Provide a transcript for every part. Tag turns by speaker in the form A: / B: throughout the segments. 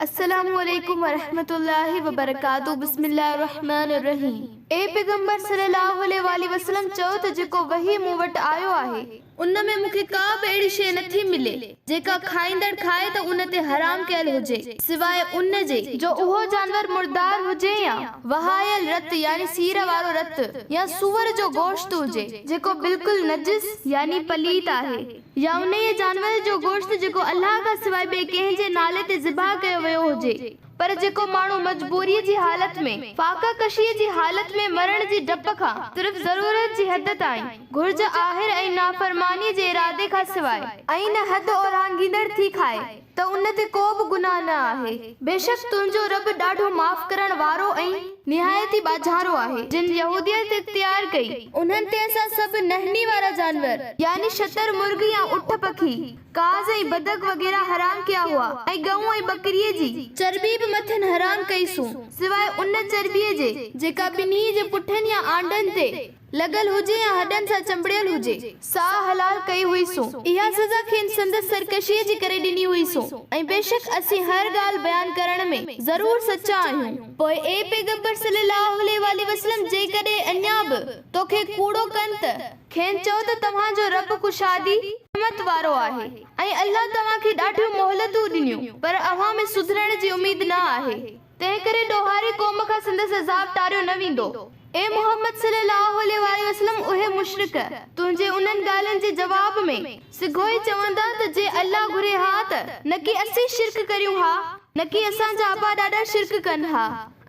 A: السلام عليڪم ورحمة الله وبرڪاته بسم الله الرحمٰن الرحيم اي پيغمبر صلي الله عليه واٰله وسلم چئو ته جيڪو وحي مون وٽ آيو آهي ان ۾ مون کي ڪا به اهڙي شيء نه ٿي ملي جيڪا کائيندڙ کائي ته ان تي حرام ڪيل هجي سواء ان جي جو اهو جانور مردار هجي يا وهايل رت يعني سير وارو رت يا سوئر جو گوشت هجي جيڪو بلڪل نجس يعني پليت آهي. يا انهيء جانور جو گوشت جيڪو الله کان سواء ٻئي ڪنهن جي نالي تي ذبح ڪيو ويو هجي، پر جيڪو ماڻهو مجبوريء جي حالت ۾، فاقه ڪشيء جي حالت ۾، مرڻ جي ڊپ کان صرف ضرورت جي حد تائين، گهرج آهر ۽ نافرمانيء جي ارادي کان سواء، ۽ نه حد اورانگهيندڙ ٿي کائي. ته ان تي ڪو به گناهه نه آهي، بيشڪ تنهنجو رب ڏاڍو معاف ڪرڻ وارو ۽ نهايت ئي ٻاجهارو آهي. جن يهوديت اختيار ڪئي، انهن تي اسان سڀ نهني وارا جانور، يعني شتر مرغ يا اٺ پکي، ڪاز ۽ بدڪ وغيره حرام ڪيا هئا ۽ ڳئون ۽ ٻڪريء جي چرٻي به مٿن حرام ڪئي سون سواء ان چرٻيء جي جيڪا ٻنهي جي پٺن يا آنڊن تي لڳل هجي يا هڏن سان چنبڙيل هجي، ساهه حلال ڪئي هئيسون. اها سزا کين سندس سرڪشيء جي ڪري ڏني هئيسون ۽ بيشڪ اسين هر ڳالهه بيان ڪرڻ ۾ ضرور سچا آهيون. پوء اي پيغمبر صلّي اللّٰه عليه واٰله وسلّم جيڪڏهن اڃا به تو کي ڪوڙو ڪن ته، کين چئو ته توهان جو ربّ ڪشادي، رحمت، وارو آهي ۽ الله توهان کي ڏاڍيون مهلتون ڏنيون پر اوهان ۾ سڌرڻ جي اميد نه آهي. تنهن ڪري ڏوهاري قوم کان سندس عذاب ٽاريو نه ويندو. اي محمد صلي الله عليه واٰله وسلم اهي مشرڪ تنهنجي انهن ڳالهين جي جواب ۾ سگهو ئي چوندا ته جي الله گهري ها ته نڪي اسين شرڪ ڪريون ها، نڪي اسان جا ابا ڏاڏا شرڪ ڪن ها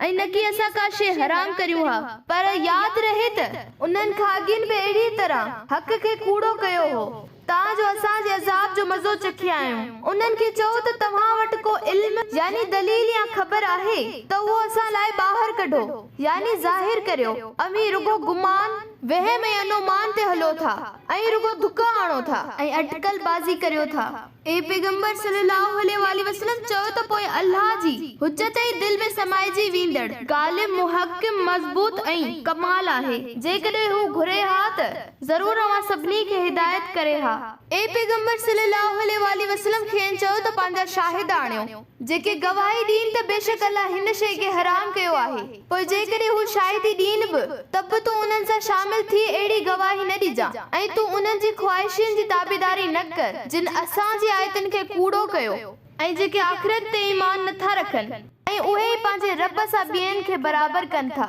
A: ۽ نڪي اسان ڪا شيء حرام ڪريون ها. پر ياد رهي ته انهن کاڳين به اهڙيء طرح حق کي ڪوڙو ڪيو هو. تان جو اسان جي عذاب جو مزو چکي آيون. انهن کي چئو ته توهان وٽ ڪو علم، يعني دليل يا خبر، آهي ته اهو اسان لاء ٻاهر ڪڍو، يعني ظاهر ڪريو، اوهين رڳو گمان، وهم ۽ انومان تي هلو ٿا ۽ رڳو ڌڪا آڻو ٿا. ۽ اٽڪل بازي ڪريو ٿا. اي پيغمبر صلّي اللّٰه عليه واٰله وسلّم چئو ته پوء الله جي حجّت ئي دل ۾ سمائجي ويندڙ، غالب، محڪّم، مضبوط ۽ ڪمال آهي. جيڪڏهن هو گهري ها ته. ضرور اوهان سڀني کي هدايت ڪري ها. اي پيغمبر صلّي اللّٰه عليه واٰله وسلّم کين چئو ته پنهنجا شاهد آڻيو جيڪي گواهي ڏين ته بيشڪ الله هن شيء کي حرام ڪيو آهي پوء جيڪڏهن هو شاهدي ڏين به ته به تون انهن سان شامل ٿي اهڙي گواهي نه ڏجان ۽ تون انهن جي خواهشين جي تابعداري نه ڪر جن اسان جي آيتن کي ڪوڙو ڪيو ۽ جيڪي آخرت تي ايمان نه ٿا رکن ۽ اهي ئي پنهنجي ربّ سان ٻين کي برابر ڪن ٿا.